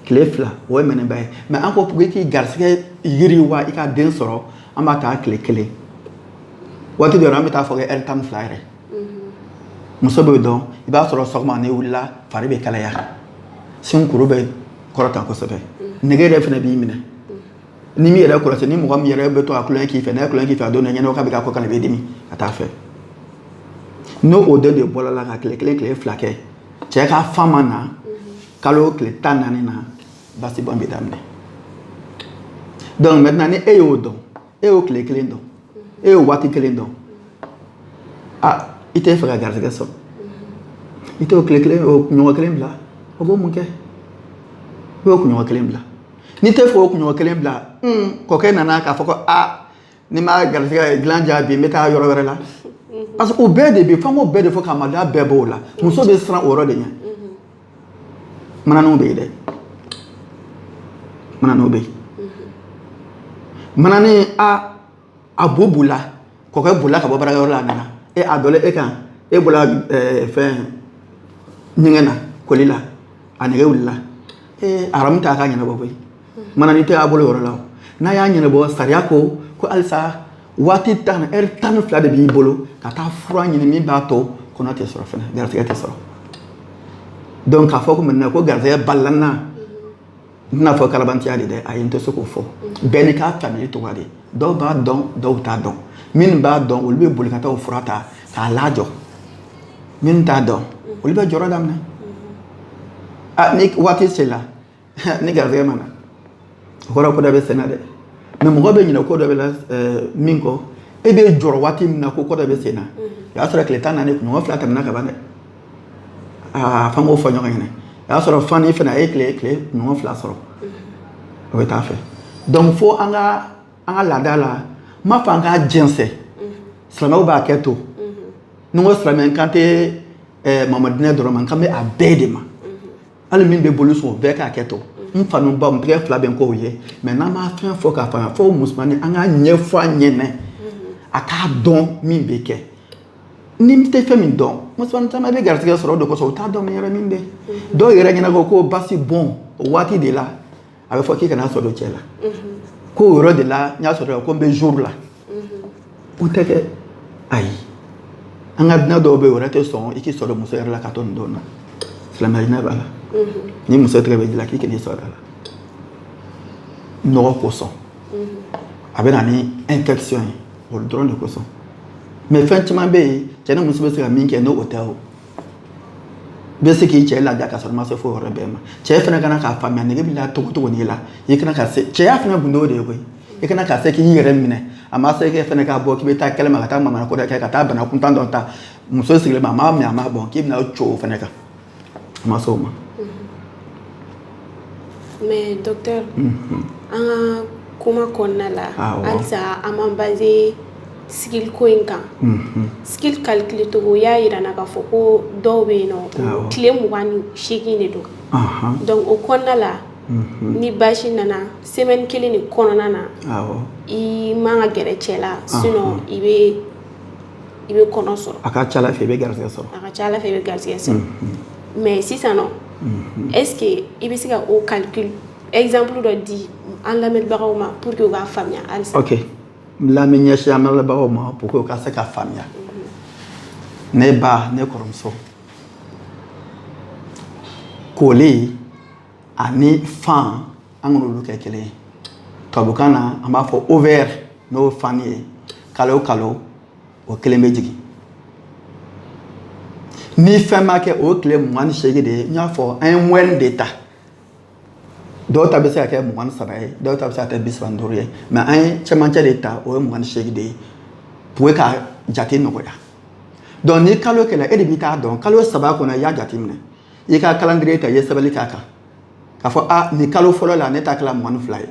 tile fila o ye mɛnenba ye mais an ko pour que k'i garisigɛ yiriwa i ka den sɔrɔ an b'a ta tile kelen waati dɔ an bɛ taa fɔ kɛ heure tan ni fila yɛrɛ muso bɛ dɔn i b'a sɔrɔ sɔgɔma n'e wulila fari bɛ kalaya sinkuru bɛ kɔrɔta kosɛbɛ nege yɛrɛ fɛnɛ b'i minɛ ni min yɛrɛ kɔlɔsi ni mɔgɔ min yɛrɛ bɛ to a kulonkɛ k'i fɛ n'a ye kulonkɛ k'i fɛ a don na ɲɛnɛw k'a bɛ k'a kɔ kana bɛ dimi ka taa fɛ n'o o don de bɔra la ka tile kelen tile fila kɛ cɛ ka fan ma na kalo tile tan naani na basibɔn bɛ daminɛ donc maintenant ni e y'o dɔn e y'o tile kelen dɔn e y'o waati kelen dɔn a i tɛ fɛ ka garisɛgɛ sɔrɔ i t'o tile kelen o kunɲɔgɔn kelen bila o b'o mun kɛ i b'o kunɲɔgɔn kelen bila n'i tɛ fɛ o kunɲɔgɔn kelen bila kɔkɛ nana k'a fɔ ko a ni ma garisɛgɛ dilan ja bi n bɛ taa yɔrɔ wɛrɛ la parce que o bɛɛ de bɛ f'an k'o bɛɛ de fɔ ka maloya bɛɛ b'o la muso bɛ siran o yɔrɔ de ɲɛ mananiw bɛ yen dɛ mananiw bɛ yen manani a a bo bolila kɔkɛ bolila ka bɔ baarakɛyɔrɔ la a nana e a donnen e kan e bɔra eh, fɛn ɲɛgɛn na koli la a nege wulila ee aramu t'a ka ɲɛnabɔ koyi manani tɛ a bolo yɔrɔ la n'a y'a ɲɛnabɔ sariya ko ko halisa waati tan ɛri tan ni fila de b'i bolo ka taa fura ɲini min b'a to kɔnɔ tɛ sɔrɔ fana garisɛgɛ tɛ sɔrɔ donc k'a fɔ ko maintenant ko garisɛgɛ balila n na n tɛn'a fɔ kalabantiya de dɛ ayi n tɛ se k'o fɔ bɛɛ n'i ka faamuyali cogoya de dɔw b'a dɔn dɔw t'a dɔn minnu b'a dɔn olu bɛ boli ka taa o fura ta k'a lajɔ minnu t'a dɔn olu bɛ jɔrɔ daminɛ a ni waati sela ni garisɛgɛ ma na o kɔrɔ ko dɔ bɛ senna dɛ mais mɔgɔ bɛ ɲinɛ ko dɔ bɛ la min kɔ e bɛ jɔrɔ waati min na ko ko dɔ bɛ senna o y'a sɔrɔ tile tan naani kunɲɔgɔn fila tɛmɛna ka ban dɛ aa f'an k'o fɔ ɲɔgɔn ɲɛna o y'a sɔrɔ fan fana a ye tile tile kunɲɔgɔn fila sɔrɔ o bɛ taa fɛ donc fo an ka an ka laada la n m'a fɔ an k'a jɛnsɛn silamɛw bɛ hakɛ to ni n ko silamɛ n kan tɛ mamadinɛ dɔrɔn ma n kan bɛ a bɛɛ de ma hali min bɛ boli sɔn o bɛɛ ka hakɛ to n faw ni n baw n tɛgɛ fila bɛ n kɔ aw ye mais n'an ma fɛn fɔ k'a faamuya fo musomannin an k'a ɲɛfɔ a ɲɛnɛ a k'a dɔn min bɛ kɛ n'i tɛ fɛn min dɔn musomannin caman bɛ garisɛgɛ sɔrɔ o de kosɔn u t'a dɔn min yɛrɛ min bɛ dɔw yɛrɛ ɲɛna ko ko basi bɔn o waati de la a bɛ fɔ k'i kana sɔrɔ cɛ la ko o yɔrɔ de la n'i y'i sɔrɔ kɔnɔ bɛ jɔ i la o tɛ kɛ ayi an ka diinɛ dɔw bɛ yen o yɛrɛ tɛ sɔn i k'i sɔrɔ muso yɛrɛ la ka to nin don na silamɛya diinɛ b'a la ni muso tɛgɛ bɛ ji la k'i kan'i sɔrɔ a la nɔgɔ kosɔn a bɛ na ni infection ye o dɔrɔn de kosɔn mais fɛn caman bɛ yen cɛ ni muso bɛ se ka min kɛ n'o o tɛ o bɛ se k'i cɛ ladiya ka sɔrɔ i ma se fo yɔrɔ bɛɛ ma cɛ fana kana k'a faamuya nege b'i la cogo cogo n'i la i kana ka se cɛya fana gundo de ye koyi i kana ka se k'i yɛrɛ minɛ a ma se k'e fana ka bɔ k'i bɛ taa kɛnɛma ka taa manamana ko dɔ kɛ ka taa bana kuntan dɔ ta muso sigilen ma a m'a min a m'a bɔn k'i bɛna o ci o fana kan a ma se o ma Mais docteur unhun, an ka kuma kɔnɔna la, awɔ, halisa an b'an baser cycle ko in kan, unhun, cycle calcul cogo u y'a jira an na k'a fɔ ko dɔw bɛ yen n'o tile 28 de don, anhan, donc o kɔnɔna la ni basi nana semaine kelen de kɔnɔna na, awɔ, i man kan ka gɛrɛ cɛ la sinon i bɛ i bɛ kɔnɔ sɔrɔ a ka ca ala fɛ i bɛ garigɛ sɔrɔ a ka ca ala fɛ i bɛ garigɛ sɔrɔ mɛ sisan eke i bɛ se ka o ka ezanpuru dɔ di an lamɛnbagaw ma pur que b'a faamuya lammi ɲɛsi an lamɛnbagaw ma p que ka se ka faamuya ne ba ne kɔrɔmuso kolen ani fan an kana olu kɛ kelen ye tubabukan na an b'a fɔ ovaire n'o ye fan ye kalo o kalo o kelen bɛ jigin ni fɛn ma kɛ o ye tile mugan ni seegin de ye n y'a fɔ an ye moyenne de ta dɔw ta bɛ se ka kɛ mugan ni saba ye dɔw ta bɛ se ka kɛ bi saba ni duuru ye mais an ye cɛmancɛ de ta o ye mugan ni seegin de ye pour ka jate nɔgɔya donc ni kalo kɛla e de b'i ta dɔn kalo saba kɔnɔ i y'a jate minɛ i ka calendrier ta i ye sɛbɛnni k'a kan k'a fɔ a nin kalo fɔlɔ la ne ta kɛla mugan ni fila ye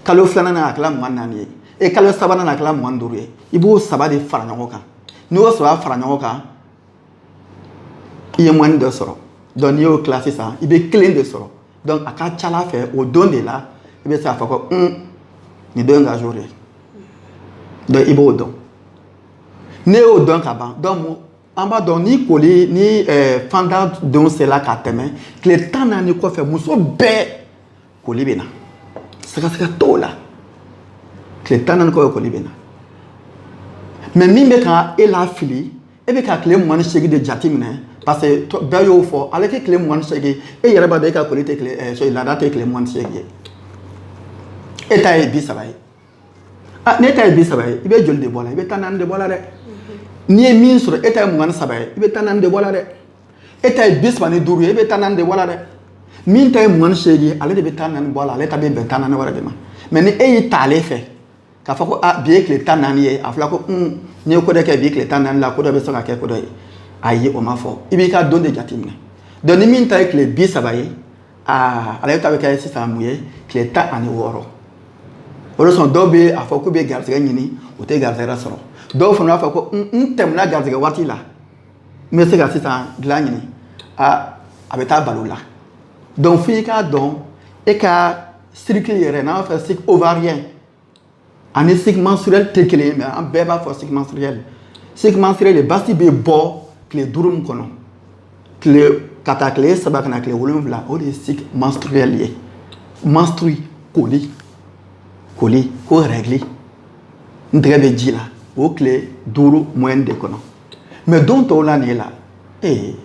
kalo filanan na a kɛla mugan ni naani ye e kalo sabanan na a kɛla mugan ni duuru ye i b'o saba de fara ɲɔgɔn kan n'i y'o saba fara ɲɔgɔn kan i ye moyenne dɔ sɔrɔ donc n'i y'o tila sisan i bɛ kelen de sɔrɔ donc a ka ca ala fɛ o don de la i bɛ se k'a fɔ ko un nin don ye n ka jour ye donc i b'o dɔn n'i y'o dɔn ka ban donc an b'a dɔn ni koli ni eh, fanda don sela ka tɛmɛ tile tan naani kɔfɛ muso bɛɛ koli bɛ na sɛgɛsɛgɛ t'o la tile tan naani kɔfɛ koli bɛ na mais min bɛ ka e lafili e bɛ ka tile mugan ni seegin de jate minɛ parce que bɛɛ y'o fɔ ale tɛ tile mugan ni seegin e yɛrɛ b'a dɔn e ka koli tɛ tile eh, laada tɛ tile mugan ni seegin ye e ta ye bi saba ye ah, ne ta ye bi saba ye i bɛ joli de bɔ la i bɛ tan naani de bɔ la dɛ n'i ye min sɔrɔ e ta ye mugan ni saba ye i bɛ tan naani de bɔ la dɛ e ta ye bi saba ni duuru ye e bɛ tan naani de bɔ la dɛ min ta ye mugan ni seegin ye ale de bɛ tan naani bɔ a la ale ta bɛ bɛn tan naani wɛrɛ de ma mais ni e y'i ta ale fɛ k'a fɔ ko a ah, bi ye tile tan naani ye a fɔra ko un n'i ye ko dɔ kɛ bi tile tan naani la ko dɔ bɛ se ka kɛ ko dɔ ye ayi o ma fɔ i b'i ka don de jateminɛ donc ni min ta ye tile bi saba ye aa ale ta bɛ kɛ sisan mun ye tile tan ani wɔɔrɔ o de sɔn dɔw bɛ a fɔ k'u bɛ garisɛgɛ ɲini u tɛ garisɛgɛ sɔrɔ dɔw fana b'a fɔ ko n tɛmɛna garisɛgɛ waati la n bɛ se ka sisan dilan ɲini aa a bɛ taa bal'o la donc f'i k'a dɔn e ka cycle yɛrɛ n'an b'a fɔ cycle ovarien ani cycle menstruel tɛ kelen ye mais an bɛɛ b'a fɔ cycle menstruel cycle menstruel basi bɛ bɔ tile duuru min kɔnɔ tile ka taa tile saba ka na tile wolonwula o de ye cycle menstruel ye menstrues koli koli ko règle n tɛgɛ bɛ ji la o tile duuru moyenne de kɔnɔ mais don tɔw la nin ye la ee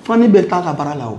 fani bɛ taa ka baara la o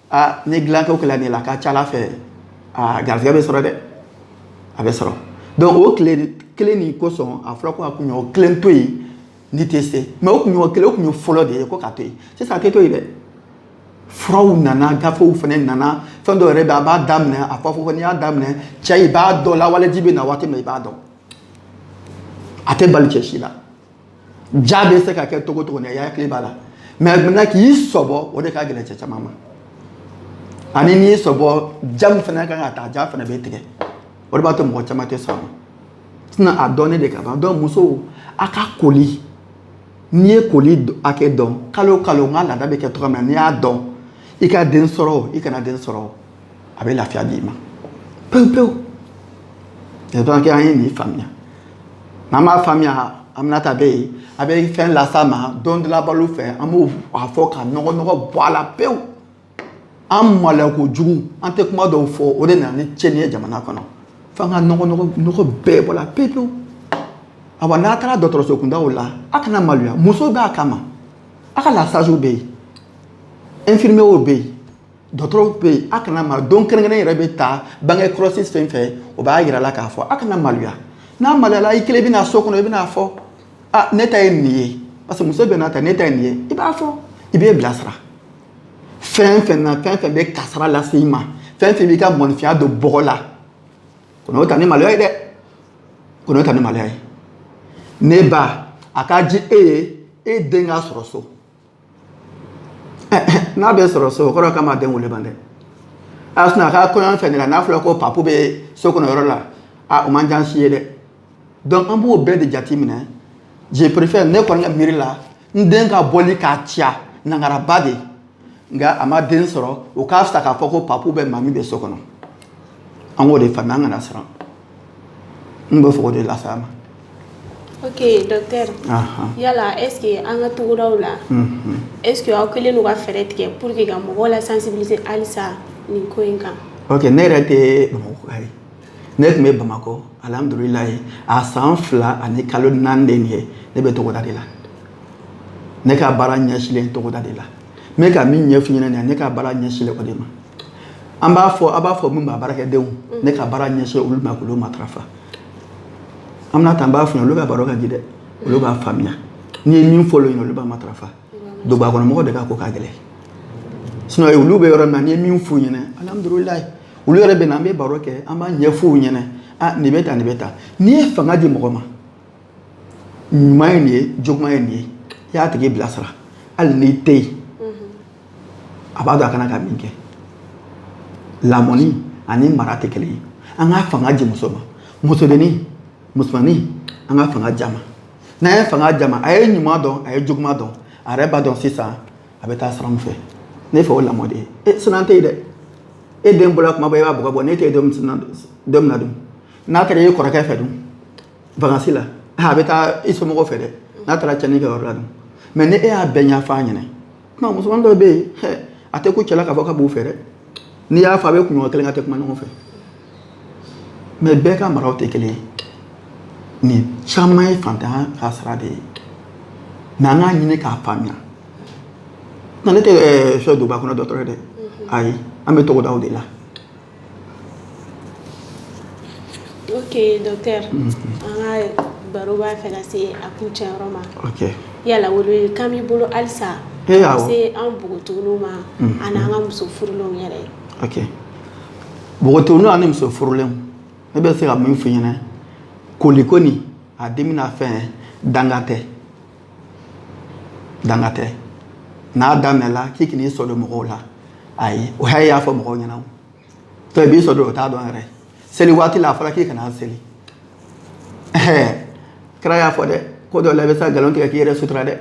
aa ni dilanko kɛla nin la a ka ca ala fɛ aa garisɛgɛ bɛ sɔrɔ dɛ a bɛ sɔrɔ donc o tile kelen nin kosɔn a fɔra ko ka kunɲɔgɔn kelen to yen n'i tɛ se mais o kunɲɔgɔn kelen o kun ye fɔlɔ de ye ko ka to yen sisan a tɛ to yen dɛ furaw nana gafew fana nana fɛn dɔw yɛrɛ bɛ a b'a daminɛ a fɔ fɔ n'i y'a daminɛ cɛ i b'a dɔn lawaleji bɛ na waati min i b'a dɔn a tɛ bali cɛ si la ja bɛ se ka kɛ togo togo n'i hakili b'a la mais maintenant k'i sɔbɔ o de ka gɛlɛn cɛ caman ma ani n'i sɔbɔ ja min fana kan ka taa ja fana bɛ tigɛ o de b'a to mɔgɔ caman tɛ sɔn a ma sinon a dɔnnen de ka ban donc musow a ka koli n'i ye koli hakɛ dɔn kalo kalo n ka laada bɛ kɛ cogoya min na n'i y'a dɔn i ka den sɔrɔ o i kana den sɔrɔ o a bɛ lafiya di i ma pewu pewu yɛrɛ donc an ye nin faamuya n'an m'a faamuya aminata bɛ yen a bɛ fɛn las'a ma don dɔ la baro fɛ an b'a fɔ ka nɔgɔnɔgɔ bɔ a la pewu an maloya kojugu an tɛ kuma dɔw fɔ o de nana ni cɛnni ye jamana kɔnɔ f'an ka nɔgɔnɔgɔ nɔgɔ bɛɛ bɔ la pewu pewu awa n'a taara dɔgɔtɔrɔso kundaw la a kana maloya muso b'a kama a ka lasaziw bɛ yen infirmierw bɛ yen dɔgɔtɔrɔw bɛ yen a kana malo don kɛrɛnkɛrɛn yɛrɛ bɛ ta bange kɔlɔsi fɛn fɛn o b'a jira la k'a fɔ a kana maloya n'a maloyala i kelen bɛna so kɔnɔ i bɛna fɔ a ne ta ye nin ye parce que muso bɛɛ n'a ta ne ta ye nin ye i b'a fɔ i b'e bilasira fɛn fɛn na fɛn fɛn bɛ kasara lase i ma fɛn fɛn b'i ka mɔnifinya don bɔgɔ la kan'o ta ni maloya ye dɛ kan'o ta ni maloya ye ne ba a ka di e ye e den k'a sɔrɔ so n'a bɛ sɔrɔ so o kɔrɔ k'a ma den wele ban dɛ a sɔnna a ka kɔɲɔ fɛn de la n'a fɔra ko papu bɛ so kɔnɔ yɔrɔ la a o man jan si ye dɛ donc an b'o bɛɛ de jate minɛ je préfère ne kɔni ka miiri la n den ka bɔli ka caya nangaraba de nka a ma den sɔrɔ o ka fisa k'a fɔ ko papu bɛ mami bɛ so kɔnɔ an k'o de faamuya an kana siran N bɛ fo de las'a ma ok docteur yala est-ce que an ka togodaw la est-ce que aw kɛlen don ka fɛɛrɛ tigɛ pour que ka mɔgɔw la sensibiliser halisa nin ko in kan ne yɛrɛ tɛ bamakɔ ye ne tun bɛ bamakɔ alhamdulilayi a san fila ani kalo naani de nin ye ne bɛ togoda de la ne ka baara ɲɛsinlen togoda de la n bɛ ka min ɲɛf'i ɲɛna nin ye ne ka baara ɲɛsinlen o de ma an b'a fɔ a b'a fɔ min ma baarakɛdenw mm. ne ka baara ɲɛsin olu ma k'olu matarafa an bɛna tan b'a fɔ olu ka baro ka di dɛ olu b'a faamuya n'i ye min fɔ olu ɲɛna olu b'a matarafa duguba kɔnɔ mɔgɔw de ka ko ka gɛlɛn sinɔn olu bɛ yɔrɔ min na n'i ye min f'u ɲɛna alihamudulilayi olu yɛrɛ bɛ na an bɛ baro kɛ an b'a ɲɛf'u ɲɛna a nin bɛ tan nin bɛ tan n'i ye fanga di mɔgɔ ma ɲuman ye nin ye juguman ye nin ye i y'a tigi bilasira hali n'i tɛ yen a b'a dɔn a kana ka min kɛ lamɔni ani mara tɛ kelen ye an ka fanga di muso ma musodennin musomanin an ka fanga di a ma n'an ye fanga di a ma a ye ɲuman dɔn a ye juguman dɔn a yɛrɛ b'a dɔn sisan a bɛ taa sira min fɛ ne fɛ o lamɔ de ye e sinɔn tɛ yen dɛ e den bɔra kuma bɛɛ i b'a bugɔ bɔn n'e tɛ yen don min na dun n'a kɛra e kɔrɔkɛ fɛ dun wakansi la a bɛ taa i somɔgɔw fɛ dɛ n'a taara cɛnni kɛ yɔrɔ la mɛ ni e y'a bɛɛ ɲɛf'a ɲɛna kuma musoman dɔ bɛ yen a tɛ ko cɛla ka fɔ ka b'o fɛ dɛ n'i y'a fɔ a bɛ kunɲɔgɔn kelen k'a tɛ kuma ɲɔgɔn fɛ mɛ bɛɛ ka maraw tɛ kelen ye nin caman ye fantanya ka sira de ye mɛ an k'a ɲini k'a faamuya nɔn ne tɛ fɛn duguba kɔnɔ dɔgɔtɔrɔ ye dɛ ayi an bɛ togodaw de la ok docteur an ka baro b'a fɛ ka se a kuncɛ yɔrɔ ma, ok, yala welewelekan b'i bolo halisa ka se an npogotigininw ma ani an ka muso furulenw yɛrɛ, ok, npogotigininw ani muso furulenw ne bɛ se ka min fɔ i ɲɛna koli kɔni a daminɛ fɛn danga tɛ danga tɛ n'a daminɛla k'i kan'i sɔrɔ don mɔgɔw la ayi o haya y'a fɔ mɔgɔw ɲɛna to i b'i sɔrɔ don o t'a dɔn yɛrɛ seli waati la a fɔra k'i kana seli kira y'a fɔ dɛ ko dɔ la i bɛ se ka nkalon tigɛ k'i yɛrɛ sutura dɛ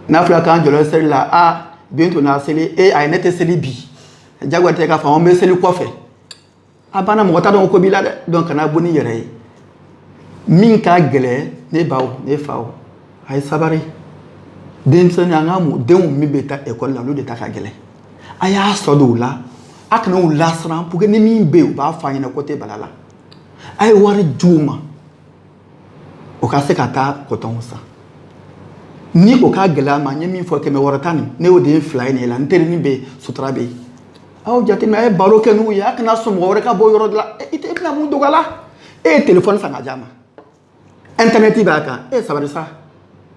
n'a fɔra k'an jɔlɔ seli la a bi n tɛna seli e ayi ne tɛ seli bi jagoya tɛ k'a fɔ an bɛ seli kɔfɛ a banna mɔgɔ t'a dɔn ko b'i la dɛ dɔnki kana bɔ n'i yɛrɛ ye min ka gɛlɛn ne baw ne faw a ye sabari denmisɛnnin an ka denw min bɛ taa ekɔli la olu de ta ka gɛlɛn a y'a sɔrɔ don u la a kana u lasiran puruke ni min bɛ yen u b'a fɔ a ɲɛna ko tɛ bal'a la a ye wari di u ma u ka se ka taa kɔtɔnw san ni o ka gɛlɛy'a ma n ye min fɔ kɛmɛ wɔɔrɔ ta nin ne y'o den fila ye nin la n terinin bɛ yen sutura bɛ yen aw jateminɛ a ye baro kɛ n'u ye a kana sɔn mɔgɔ wɛrɛ ka bɔ yɔrɔ dɔ la i tɛ bɛna mun dog'a la e ye telefɔni san ka d'a ma ɛntɛnɛti b'a kan e sabari sa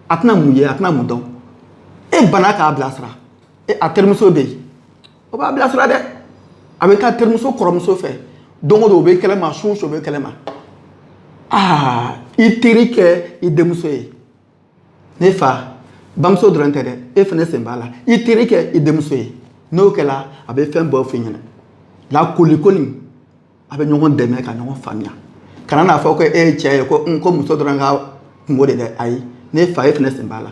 a tɛna mun ye a tɛna mun dɔn e banna k'a bilasira e a terimuso bɛ yen o b'a bilasira dɛ a bɛ taa terimuso kɔrɔmuso fɛ don o don o bɛ kɛlɛ ma su o su o bɛ kɛlɛ ma aa i teri kɛ i denmuso ye ne fa bamuso dɔrɔn tɛ dɛ e fana sen b'a la i teri kɛ i denmuso ye n'o kɛla a bɛ fɛn bɛɛ f'i ɲɛna nka kolikoli a bɛ ɲɔgɔn dɛmɛ ka ɲɔgɔn faamuya kana n'a fɔ ko e ye cɛ ye ko muso dɔrɔn ka kunko de dɛ ayi ne fa e fana sen b'a la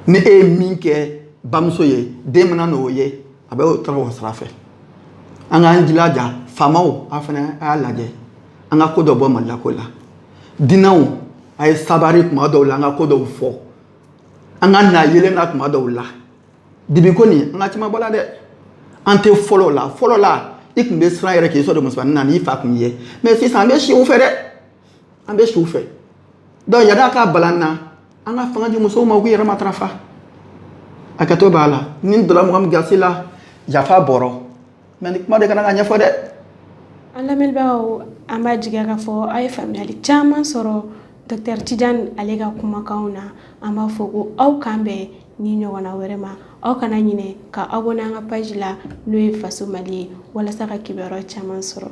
ni e ye min kɛ bamuso ye den mana n'o ye a bɛ o tɔɔrɔ o sira fɛ an k'an jilaja faamaw a fana a y'a lajɛ an ka ko dɔw bɔ maloyako la dinɛw a ye sabari kuma dɔw la an ka ko dɔw fɔ an ka na yeelen na kuma dɔw la Dibi ko nin an ka caman bɔ a la dɛ an tɛ fɔlɔ la fɔlɔ la i tun bɛ siran yɛrɛ k'i sɔrɔ de musomannin na n'i fa tun ye mɛ sisan an bɛ si u fɛ dɛ an bɛ si u fɛ dɔnku yanni a ka bala an na an ka fanga di musow ma u k'u yɛrɛ matarafa hakɛto b'a la ni n donna mɔgɔ min gasi la yafa b'o rɔ Mɛ ni kuma de kana ka ɲɛfɔ dɛ an lamɛnbagaw an b'a jigiya k'a fɔ aw ye faamuyali caman sɔrɔ dɔkitɛri Tijan ale ka kumakanw na an b'a fɔ ko aw k'an bɛn ni ɲɔgɔnna wɛrɛ ma aw kana ɲinɛ ka abɔne an ka paz la n'o ye faso mali ye walasa ka kibaruya caman sɔrɔ